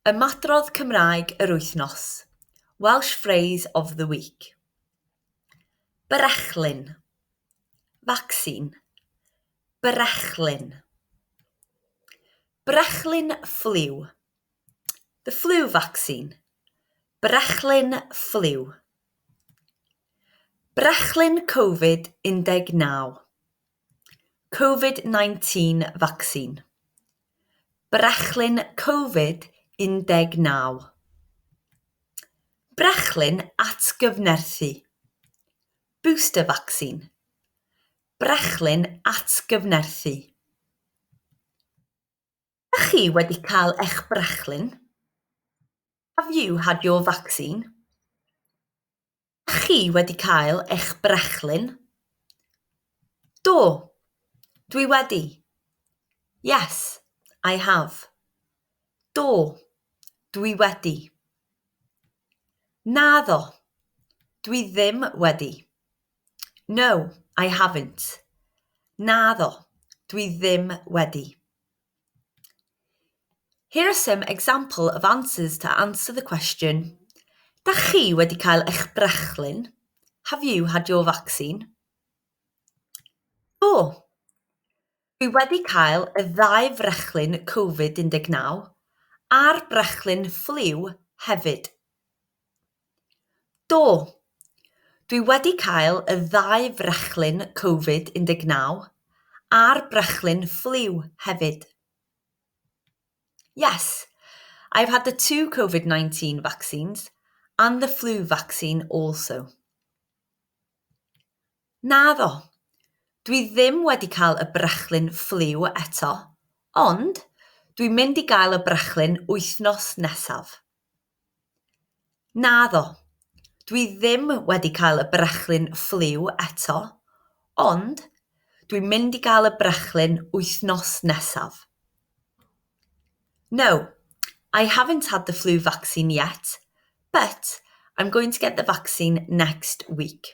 Ymadrodd Cymraeg yr Wythnos, Welsh Phrase of the Week Brechlyn Vaccine Brechlyn Brechlyn Ffliw The flu vaccine Brechlyn Ffliw Brechlyn Covid 19 Covid 19 vaccine, brechlyn Covid 19, brechlyn atgyfnerthu, booster vaccine, brechlyn atgyfnerthu, Ydych chi wedi cael eich brechlyn? Have you had your vaccine? Dach chi wedi cael eich brechlyn? Do, dwi wedi. Yes, I have. Do, dwi wedi. Naddo, dwi ddim wedi. No, I haven't. Naddo, dwi ddim wedi. Here are some example of answers to answer the question Da chi wedi cael eich brechlyn? Have you had your vaccine? Do Dwi wedi cael y ddau frechlyn Covid 19 a'r brechlyn ffliw hefyd. Do. Dwi wedi cael y ddau frachlun Covid 19 a'r brachlun ffliw hefyd. Yes, I've had the two Covid 19 vaccines and the flu vaccine also. Naddo, dwi ddim wedi cael y brachlun ffliw eto, ond dwi'n mynd i gael y brachlun wythnos nesaf. Naddo, dwi ddim wedi cael y brechlyn ffliw eto, ond dwi'n mynd i gael y brechlyn wythnos nesaf. No, I haven't had the flu vaccine yet, but I'm going to get the vaccine next week.